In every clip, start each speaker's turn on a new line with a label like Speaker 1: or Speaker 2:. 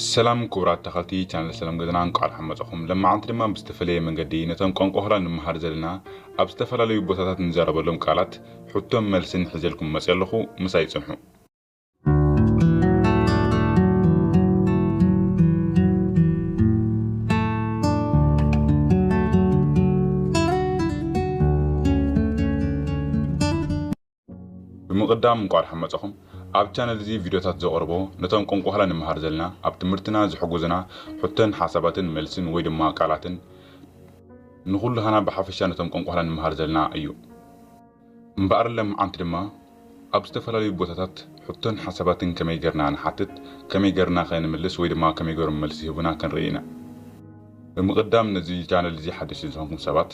Speaker 1: ሰላም ክቡራት ተኸልቲ ቻነል ሰላም ገዛና እንቋዕ ደሓን መጻኹም። ለማዓንቲ ድማ ብዝተፈለየ መንገዲ ነቶም ቋንቋ ሆላንድ ንመሃር ዘለና ኣብ ዝተፈላለዩ ቦታታት ንዛረበሎም ቃላት ሕቶን መልስን ሒዘልኩም መጺኣ ኣለኹ ምሳይ ጽንሑ። ብምቅዳም እንቋዕ ድሓን መጻኹም ኣብ ቻነል እዚ ቪድዮታት ዘቅርቦ ነቶም ቆንቋሕላ ንመሃር ዘለና ኣብ ትምህርትና ዝሕጉዝና ሕቶን ሓሳባትን መልስን ወይ ድማ ቃላትን ንኹልሃና ብሓፈሻ ነቶም ቆንቋሕላ ንመሃር ዘለና እዩ እምበኣር ለምዓንቲ ድማ ኣብ ዝተፈላለዩ ቦታታት ሕቶን ሓሳባትን ከመይ ገርና ንሓትት ከመይ ገርና ከ ንምልስ ወይ ድማ ከመይ ገሮም መልሲ ይህቡና ክንርኢ ኢና ብምቅዳም ነዚ ቻነል እዚ ሓደሽቲ ዝኾንኩም ሰባት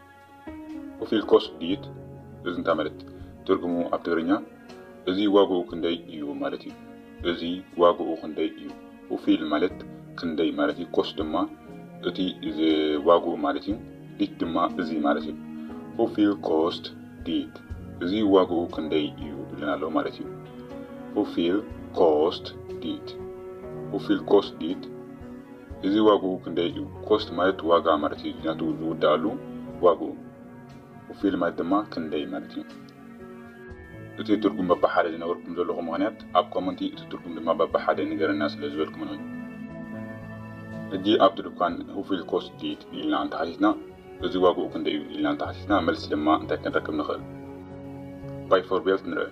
Speaker 1: ኦፊልኮስ ዲት እዝንታ ማለት ትርጉሙ ኣብ ትግርኛ እዚ ዋግኡ ክንደይ እዩ ማለት እዩ። እዚ ዋግኡ ክንደይ እዩ። ኡፊል ማለት ክንደይ ማለት እዩ። ኮስ ድማ እቲ ዋግኡ ማለት እዩ። ዲት ድማ እዚ ማለት እዩ። ኡፊል ኮስት ዲት እዚ ዋግኡ ክንደይ እዩ ኢሉና ኣሎ ማለት እዩ። ኡፊል ኮስት ዲት ኡፊል ኮስት ዲት እዚ ዋግኡ ክንደይ እዩ? ኮስት ማለት ዋጋ ማለት እዩ ናቱ ዝውደኣሉ ዋግኡ። ፉፊል ማለት ድማ ክንደይ ማለት እዩ። እቲ ትርጉም በብሓደ ዝነበርኩም ዘለኹ ምኽንያት ኣብ ኮመንቲ እቲ ትርጉም ድማ በብሓደ ንገረና ስለ ዝበልኩምን እዩ። ሕጂ ኣብቲ ዱካን ፉፊል ኮስት ድይት ኢልና እንተሓቲትና እዚ ዋግኡ ክንደይ እዩ ኢልና እንተሓቲትና መልሲ ድማ እንታይ ክንረክብ ንኽእል? ባይ ፎር ቤልት ንርእ።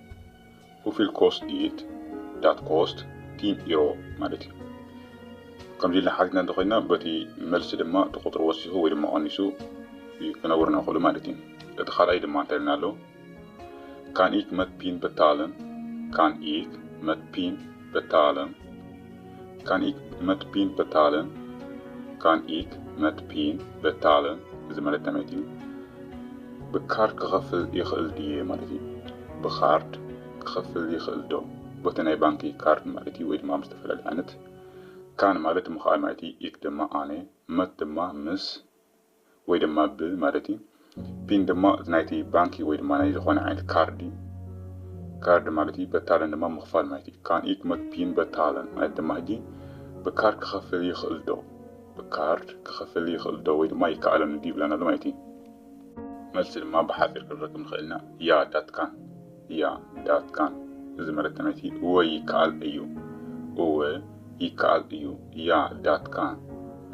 Speaker 1: ሆፊል ኮስት ዲት ዳት ኮስት ቲን ኢሮ ማለት እዩ ከምዚ ኢልና ሓቲትና እንተኮይና በቲ መልሲ ድማ እቲ ቁፅሪ ወሲኹ ወይ ድማ ቀኒሱ ክነብርና ክእሉ ማለት እዩ እቲ ካልኣይ ድማ እንታይ ኢልና ኣሎ ካን ኢክ መት ፒን በታለን ካን ኢክ መት ፒን በታለን Kan ik met pin betalen? Kan ik met pin betalen? እዚ ማለት እንታይ ማለት እዩ? ብካርድ ክኸፍል ይኽእል ድየ ማለት እዩ። ብካርድ ክኸፍል ይኽእል ዶ? ቦቲ ናይ ባንኪ ካርድ ማለት እዩ ወይ ድማ ኣብ ዝተፈላለየ ዓይነት። ካን ማለት ምኽኣል ማለት እዩ። ኢክ ድማ ኣነ። መት ድማ ምስ ወይ ድማ ብ ማለት እዩ። ፒን ድማ እቲ ናይቲ ባንኪ ወይ ድማ ናይ ዝኾነ ዓይነት ካርዲ ካርድ ማለት እዩ። በታለን ድማ ምኽፋል ማለት እዩ። ካን ኢክ መክ ፒን በታለን ማለት ድማ ሕጂ ብካርድ ክኸፍል ይኽእል ዶ ብካርድ ክኸፍል ይኽእል ዶ ወይ ድማ ይከኣለኒ ድዩ ይብለና ኣሎ ማለት እዩ። መልሲ ድማ ብሓጺር ክንረክብ ንኽእል ኢና ያ ዳት ካን። እያ ዳትካን እዚ መልእክቲ ናይቲ እወ ይከኣል እዩ እወ ይከኣል እዩ እያ ዳትካን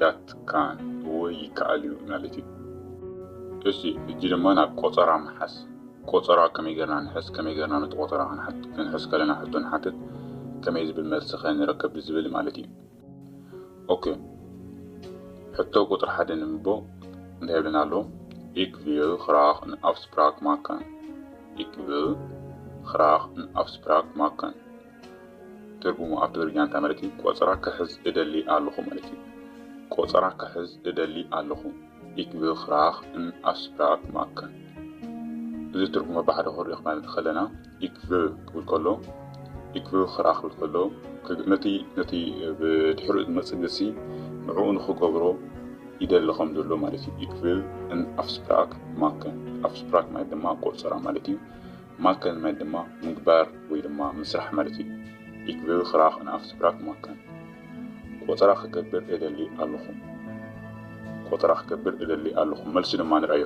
Speaker 1: ዳትካን እወ ይከኣል እዩ ማለት እዩ። እሺ ሕጂ ድማ ናብ ቆጸራ ምሓዝ ቆጸራ ከመይ ጌርና ንሕዝ ከመይ ጌርና ነቲ ቆጸራ ክንሕዝ ከለና ሕቶ ንሓትት ከመይ ዝብል መልሲ ከ ንረክብ ብዝብል ማለት እዩ። ኦኬ ሕቶ ቁፅሪ ሓደ ንምቦ እንታይ ይብለና ኣሎ ኢክ ቪል ግራክ ን ኣፍስፕራክ ማከን ኢክ ቪል ግራክ ን ኣፍስፕራክ ማከን ትርጉሙ ኣብ ትግርኛ እንታይ ማለት እዩ ቆፀራ ክሕዝ እደሊ ኣለኹ ማለት እዩ ቆፀራ ክሕዝ እደሊ ኣለኹ ኢክ ቪል ግራክ ን ኣፍስፕራክ ማከን እዚ ትርጉሙ ብሓደ ክሪኦ ክማለት ከለና ኢክቭር ክብል ከሎ ኢክቭር ኽርኣ ክብል ከሎ ነቲ ነቲ ብድሕሪኡ ዝመጽእ ግሲ ንዕኡ ንኽገብሮ ይደሊ ከም ዘሎ ማለት እዩ ኢክቪል ን ኣፍስፕራክ ማከን ኣፍስፕራክ ማለት ድማ ቆጸራ ማለት እዩ ማከን ማለት ድማ ምግባር ወይ ድማ ምስራሕ ማለት እዩ ኢክቪል ክራክ ን ኣፍስፕራክ ማከን ቆጸራ ክገብር እደሊ ኣለኹ ቆጠራ ክገብር እደሊ ኣለኹ መልሲ ድማ ንርኣዮ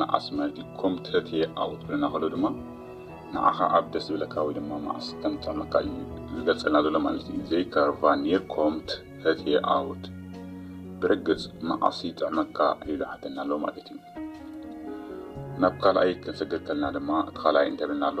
Speaker 1: መዓስ ማለት ኢዩ ኮም ተትየ ዓወት ክብለና ከሎ ድማ ንዓኻ ኣብ ደስ ዝብለካ ወይ ድማ መዓስ ከም ዝጥዕመካ ኢዩ ዝገልጸልና ዘሎ ማለት ኢዩ ዘይካር ቫ ኒር ኮምት ተትየ ዓወት ብርግጽ መዓስ ይጥዕመካ ኢሉ ይሓተና ኣሎ ማለት ኢዩ ናብ ካልኣይ ክንሰግር ከለና ድማ እቲ ካልኣይ እንታይ ብለና ኣሎ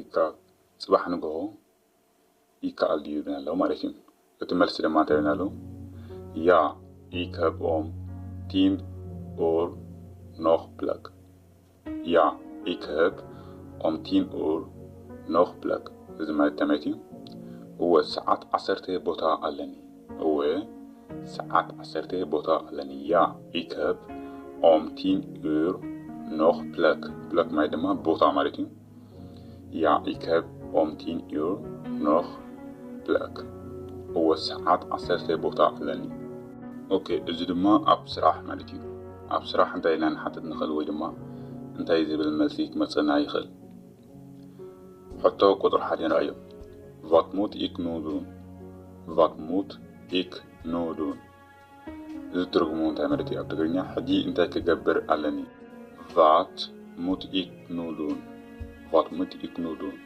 Speaker 1: ይካኣል ጽባሕ ንግሆ ይካኣል ድዩ ይብለና ኣሎ ማለት እዩ እቲ መልሲ ድማ እንታይ ይብለና ኣሎ ያ ኢከብኦም ቲም ኡር ኖክ ብለክ ያ ኢከብ ኦም ቲም ኡር ኖክ ብለክ እዚ ማለት እንታይ ማለት እዩ እወ ሰዓት ዓሰርተ ቦታ ኣለኒ እወ ሰዓት ዓሰርተ ቦታ ኣለኒ ያ ኢከብ ኦም ቲን ኡር ኖክ ፕለክ ፕለክ ማይ ድማ ቦታ ማለት እዩ ያ ኢከብ ኦም ቲን ኡር ኖክ ፕለክ እወ ሰዓት ዓሰርተ ቦታ ኣለኒ ኦኬ እዚ ድማ ኣብ ስራሕ ማለት እዩ ኣብ ስራሕ እንታይ ኢልና ንሓትት ንኽእል ወይ ድማ እንታይ ዝብል መልሲ ክመጸና ይኽእል። ሕቶ ቁጽሪ ሓድ ንርኣዮ። ቫት ሙት ኢክ ኑ ዱን? ቫት ሙት ኢክ ኑ ዱን? እዚ ትርጉሙ እንታይ ማለት እዩ ኣብ ትግርኛ? ሕጂ እንታይ ክገብር ኣለኒ? ቫት ሙት ኢክ ኑ ዱን? ቫት ሙት ኢክ ኑ ዱን?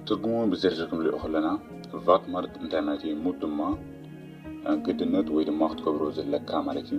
Speaker 1: ትርጉሙ ብዝርዝር ክንሪኦ ከለና ቫት ማለት እንታይ ማለት እዩ? ሙት ድማ ግድነት ወይ ድማ ክትገብሮ ዘለካ ማለት እዩ።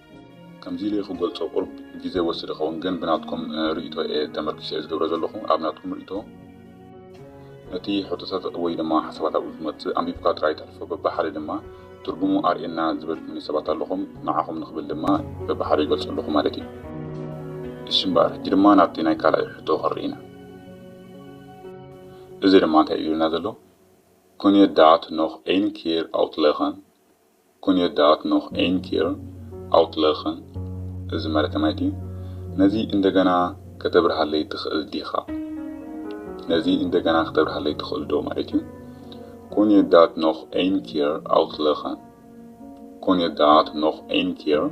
Speaker 1: ከምዚ ኢለ'የ ክገልጾ ቁሩብ ግዜ ይወስድ ይኸውን ግን ብናትኩም ርእይቶ'የ ተመርኪሰ'የ ዝገብሮ ዘለኹ ኣብ ናትኩም ርእይቶ ነቲ ሕቶታት ወይ ድማ ሓሳባት ኣብኡ ዝመጽእ ኣንቢብካ ጥራይ ተሕልፎ በብሓደ ድማ ትርጉሙ ኣርእየና ዝበልኩምኒ ሰባት ኣለኹም ንዓኹም ንኽብል ድማ በብሓደ ይገልጾ ኣለኹ ማለት'ዩ። እሺ እምበኣር ሕጂ ድማ ናብቲ ናይ ካልኣይ ሕቶ ክንርኢ ኢና እዚ ድማ እንታይ ኢሉና ዘሎ ኩን የ ዳት ኖህ ኤን ኬር ኣውትለኸን ኩን የዳኣት ኖክ ኤን ኪር ኣውትለክን እዚ ማለት ከማይቲ ነዚ እንደገና ከተብርሃለይ ትክእል ዲካ ነዚ እንደገና ከተብርሃለይ ትክእል ዶ ማለት እዩ ኩን የዳኣት ኖክ ኤን ኪር ኣውትለክን ኩን የዳኣት ኖክ ኤን ኪር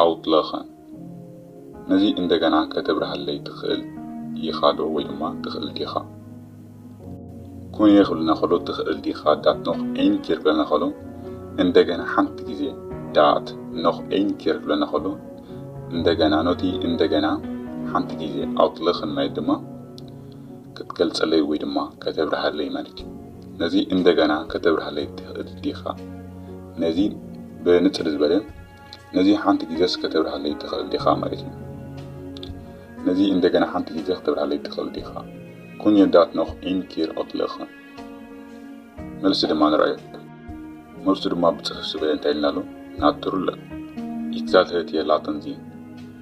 Speaker 1: ኣውትለክን ነዚ እንደገና ከተብርሃለይ ትክእል ኢካ ዶ ወይ ድማ ትክእል ዲካ። ኩን እየ ክብልና ከሎ ትኽእል ዲኻ ዳት ኖኽ ኤኝ ኬር ክብለና ከሎ እንደገና ሓንቲ ግዜ ዳት ኖኽ ኤኝ ኬር ክብለና ከሎ እንደገና ኖቲ እንደገና ሓንቲ ግዜ ኣውትለኽን ማለት ድማ ክትገልጸለይ ወይ ድማ ከተብርሃለይ ማለት እዩ ነዚ እንደገና ከተብርሃለይ ትኽእል ዲኻ ነዚ ብንጽር ዝበለ ነዚ ሓንቲ ግዜስ ከተብርሃለይ ትኽእል ዲኻ ማለት እዩ። ነዚ እንደገና ሓንቲ ግዜ ከተብርሃለይ ትኽእል ዲኻ? ኩን የ ዳት ኖኽ ኢን ኪር ኦትለኸ? መልሲ ድማ ንርኣዮ። መልሱ ድማ ብጽሑፍ ዝበለ እንታይ ኢልና ኣሎ? ናቱርለ። ኢት ዛት ሄት የ ላተን ዚን።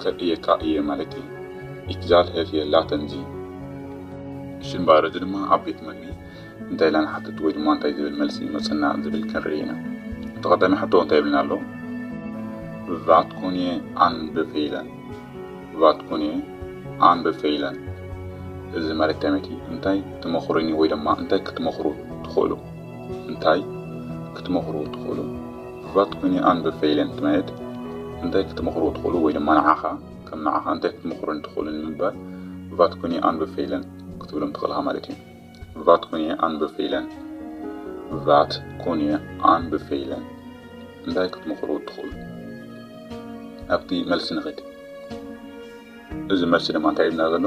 Speaker 1: ከርእየካ እየ ማለተይ ኢትዛል ህፍ የላ ተምዚ። እሺ እምበኣር እዚ ድማ ኣብ ቤት መግቢ እንታይ ኢልና ንሓትት ወይ ድማ እንታይ ዝብል መልሲ ይመጸና ዝብል ክንርኢ ኢና። እቲ ቀዳማይ ሕቶ እንታይ ይብለና ኣሎ? ቫት ኩንየ ኣንበፈይለን ቫት ኩንየ ኣንበፈይለን እዚ ማለት ከመይ እንታይ ትመኽሩኒ ወይ ድማ እንታይ ክትመኽሩ ትኽእሉ? እንታይ ክትመኽሩ ትኽእሉ? ብባት ኩኒ ኣንብ ፈይለን ትመየት እንታይ ክትመኽሩ ትኽእሉ ወይ ድማ ንዓኻ ከም ንዓኻ እንታይ ክትመኽሩኒ ትኽእሉ ንምባል ብባት ኩኒ ኣንብ ፈይለን ክትብሎም ትኽእል እኻ ማለት እዩ። ብባት ኩኒ ኣንብ ፈይለን ብባት ኩኒ ኣንብ ፈይለን እንታይ ክትመኽሩ ትኽእሉ? ናብቲ መልሲ ንኺድ። እዚ መልሲ ድማ እንታይ ኢሉና ዘሎ?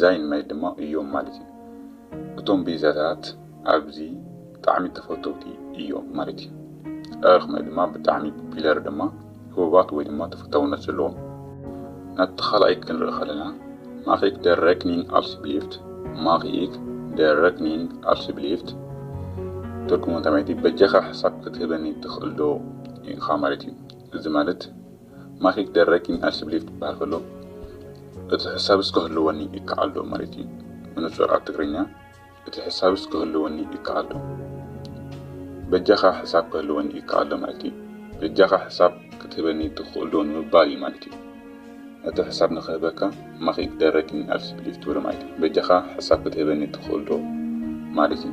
Speaker 1: ዛይን ማይ ድማ እዮም ማለት እዩ። እቶም ቤዛታት ኣብዚ ብጣዕሚ ተፈተውቲ እዮም ማለት እዩ። ጸረርክ ማይ ድማ ብጣዕሚ ፒለር ድማ ህቡባት ወይ ድማ ተፈታውነት ዘለዎም። ናብቲ ካልኣይ ክንርኢ ከለና ማክኢክ ደር ረክኒንግ ኣልስብሊፍት፣ Makiik de Rekening Alsjeblieft፣ ትርጉሙ እንታይ ማለት እዩ፣ በጃኻ ሕሳብ ክትህበኒ ትኽእል ዶ ኢኻ ማለት እዩ። እዚ ማለት። ማኪክ ደረኪን ኣስብሊፍ ክበሃል ከሎ እቲ ሕሳብስ ክህልወኒ ይከኣልዶ ማለት እዩ። ብንጹር ኣብ ትግርኛ እቲ ሕሳብስ ክህልወኒ ይከኣልዶ በጃኻ ሕሳብ ክህልወኒ ይከኣልዶ ማለት እዩ። በጃኻ ሕሳብ ክትህበኒ ትኽእልዶ ንምባል እዩ ማለት እዩ። ነቲ ሕሳብ ንክህበካ ማኪክ ደረኪን ኣስብሊፍ ትብሎ ማለት እዩ። በጃኻ ሕሳብ ክትህበኒ ትኽእልዶ ማለት እዩ።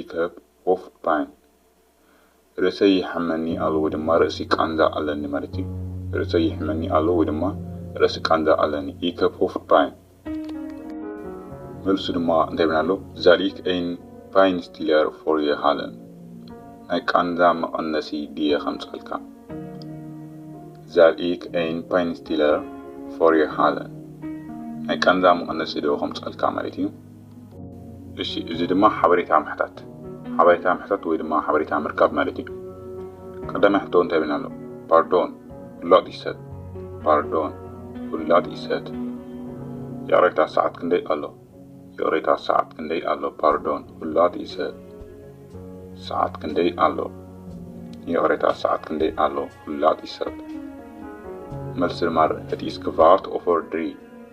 Speaker 1: ኢተብ ኦፍ ፓይን ርእሰይ ይሓመኒ ኣሎ ወይ ድማ ርእሲ ቃንዛ ኣለኒ ማለት እዩ። ርእሰይ ይሕመኒ ኣሎ ወይ ድማ ርእሲ ቃንዛ ኣለኒ ኢተብ ኦፍ ፓይን። መልሱ ድማ እንታይ ይብለና ኣሎ ዛል ኢክ ኤን ፓይንስትለር ፎር የ ሃለን ናይ ቃንዛ መቐነሲ ድየ ከምጻልካ ዛል ኢክ ኤን ፓይንስትለር ፎር የ ሃለን ናይ ቃንዛ መቐነሲ ዶ ከምጻልካ ማለት እዩ። እሺ እዚ ድማ ሓበሬታ ምሕታት ሓበሬታ ምሕታት ወይ ድማ ሓበሬታ ምርካብ ማለት እዩ። ቀዳማይ ሕቶ እንታይ ይብለና ኣሎ? ፓርዶን ፍላጥ ይሰት ፓርዶን ፍላጥ ይሰት ይቕሬታ ሰዓት ክንደይ ኣሎ? ይቕሬታ ሰዓት ክንደይ ኣሎ? ፓርዶን ፍላጥ ይሰት ሰዓት ክንደይ ኣሎ? ይቕሬታ ሰዓት ክንደይ ኣሎ? ፍላጥ ይሰት መልሲ ድማ እቲ ስክቫርት ኦፈር ድሪ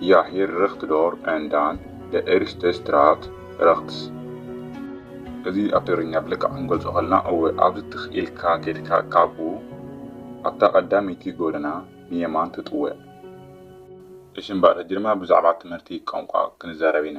Speaker 1: Jag hier recht door en dan de eerste straat rechts. እዚ ኣብ ትግርኛ ብልክዕ ክንገልጾ ከለና እወ ኣብዚ ትኽ ኢልካ ከድካ ካብኡ ኣብታ ቀዳመይቲ ጎደና ንየማን ትጥወ። እሺ እምበኣር ሕጂ ድማ ብዛዕባ ትምህርቲ ቋንቋ ክንዛረብ ኢና።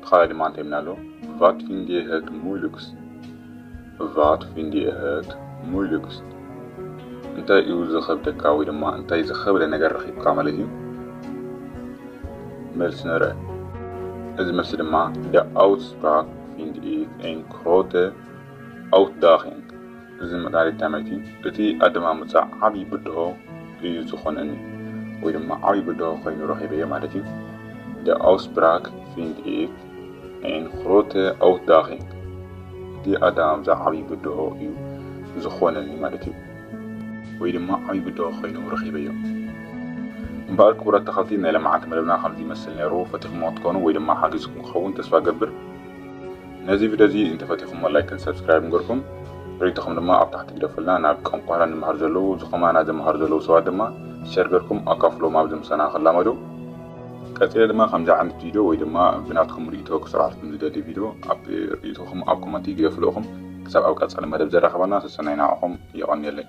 Speaker 1: ብኻልእ ድማ እንታይ ኢልና ኣሎ? ቫት ፊንድ ኢየ ሀግ ሙይሉግስት? ቫት ፊንድ ኢየ ሀግ ሙይሉግስት? እንታይ እዩ ዝኸብደካ ወይ ድማ እንታይ ዝኸብደ ነገር ረኺብካ ማለት እዩ? መልሲ ንርኣ። እዚ መልሲ ድማ ደ ኣውትስፕራክ ፊንድ ኢክ ኤን ክሮተ ኣውትዳኺንግ እዚ መድሃኒት ታመይቲ እቲ ኣደማምጻ ዓቢ ብድሆ እዩ ዝኾነኒ ወይ ድማ ዓቢ ብድሆ ኮይኑ ረኺበዮ ማለት እዩ Der Aussprach finde ich ein grote Ausdaching እቲ ኣደማምጻ ዓቢ ብድሆ እዩ ዝኾነኒ ማለት እዩ ወይ ድማ ዓቢ ብድሆ ኮይኑ ረኺበዮ እምበኣር ክቡራት ተኸልቲ ናይ ለማዓንቲ መደብና ከምዚ ይመስል ነይሩ ፈቲኹሞ ክትኮኑ ወይ ድማ ሓጊዝኩም ክኸውን ተስፋ ገብር። ነዚ ቪድዮ እዚ እንተፈቲኹሞ ላይክን ሰብስክራይብን ገርኩም ሪኢቶኹም ድማ ኣብ ታሕቲ ግደፉልና ናብ ቋንቋና ንመሃር ዘለዉ ዝኸማና ዝመሃሩ ዘለዉ ሰባት ድማ ሸር ገርኩም ኣካፍሎም ኣብዚ ምሳና ክላመዱ ቀጺለ ድማ ከምዚ ዓይነት ቪድዮ ወይ ድማ ብናትኩም ሪኢቶ ክሰርሓልኩም ዝደሊ ቪድዮ ኣብ ሪኢቶኹም ኣብ ኮመንቲ ግደፉሉ እኹም ክሳብ ኣብ ቀጻሊ መደብ ዘራኽበና ሰሰናዩ ንዓኹም የቐንየለይ።